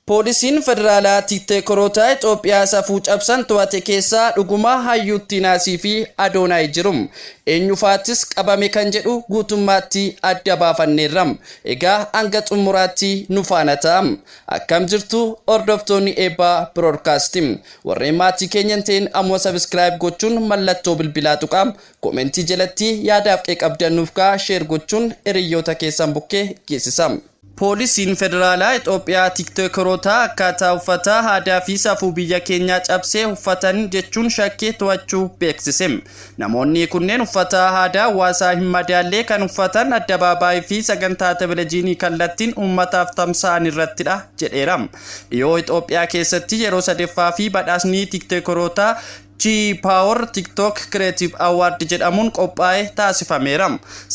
Poolisiin Federaalaa Tiikteekoroota Itoophiyaa safuu cabsan to'ate keessaa dhuguma Hayyuu Tiinaasii fi Adoonaay jiru? Eenyufaattis qabame kan jedhu guutummaatti adda baafanneerra. Egaa hanga xumuraatti nu faana ta'aa. Akkam jirtu hordoftoonni Eebbaa Broadcasting? Warreen maatii keenya hin ta'in ammuma subscribe gochuun mallattoo bilbilaa tuqaa. Comment jalatti yaadaaf qeeqabdan nuuf kaa'aa share gochuun hiriyyoota keessan bukkee geessisaa. Poolisiin Federaalaa Itoophiyaa Tiiktokeroota akkaataa uffata, aadaa fi safuu biyya keenyaa cabse uffatan jechuun shakkee to'achuu beeksise. Namoonni kunneen uffata aadaa hawaasaa hin madaallee kan uffatan addabaabaayii fi sagantaa televezyiinii kallattiin uummataaf tamsa'an irrattidha jedheera. Dhiyoo Itoophiyaa keessatti yeroo sadeeffaa fi badhaasni tiiktokerootaa T-Power TikTok Creative Award jedhamuun qophaa'e taasifameera.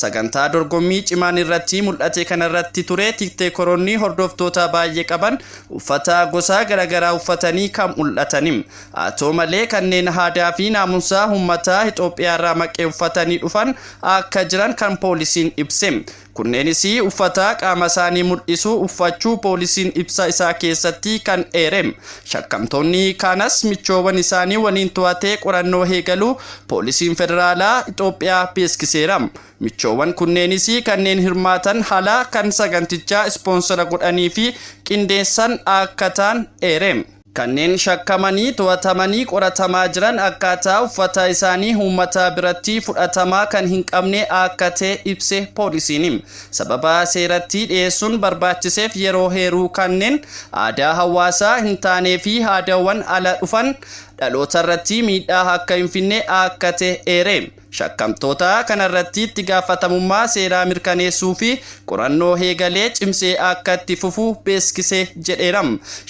Sagantaa dorgommii cimaan irratti mul'ate kanarratti ture tikteekoroonni hordoftoota baay'ee qaban uffata gosaa garagaraa uffatanii kan mul'atani. Haa ta'u malee kanneen aadaa fi naamusaa uummataa Itoophiyaarraa maqee uffatanii dhufan akka jiran kan poolisiin ibse. Kunneenis uffata qaamasaanii mul'isu uffachuu poolisiin ibsa isaa keessatti kan eerem. Shakkamtoonni kaanas michoowan isaanii waliin to'atee qorannoo eegaluu poolisiin federaalaa Itoophiyaa beeskiseera. Michoowan kunneenis kanneen hirmaatan hala kan sagantichaa ispoonsara godhanii fi qindeessan akka ta'an eerem. Kanneen shakkamanii to'atamanii qoratamaa jiran akkaataa uffataa isaanii uummataa birattii fudhatamaa kan hin qabne akka ta'e ibse poolisiini. Sababa seerattii dhiyeessuun barbaachiseef yeroo heeruu kanneen aadaa hawaasaa hin taanee fi aadawwan ala dhufan dhalootarrattii miidhaa akka hin finne akka ta'e eere. shakkamtootaa kanarratti itti gaafatamummaa seeraa mirkaneessuu fi qorannoo heegalee cimsee akka itti fufu beeksise jedheera.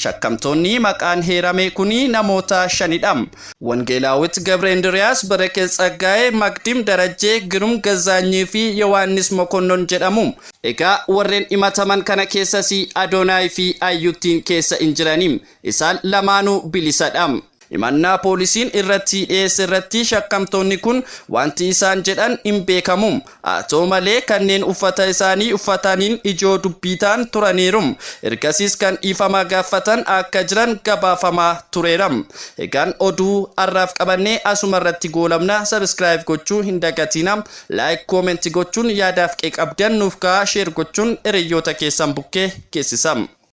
Shakkamtoonni maqaan heerame kuni namoota shanidha. Wongeelaawit Gabreendiryaas, Berekez Tsaggaayee, Magdim Darajjee, Girum Gazzaanyii fi Yowaannis Mokonnon jedhamu. Egaa warren himataman kana keessasi Adoonaay fi Ayyuttiin keessa hin jirani. Isaan lamaanuu bilisadha. Himannaa poolisiin irratti dhiyeesse irratti shakkamtoonni kun wanti isaan jedhan hin beekamu. Haa ta'u malee kanneen uffata isaanii uffataniin ijoo dubbii ta'an turaniiru. Ergasiis kan dhiifama gaaffatan akka jiran gabaafamaa tureera. Egaan oduu har'aaf qabanne asuma irratti goolabna. Subscribe gochuu hin dagatiina. Like, comment gochuun yaadaaf qeeqa qabdan nuuf kaa'aa share gochuun hiriyyoota keessan bukkee geessisa.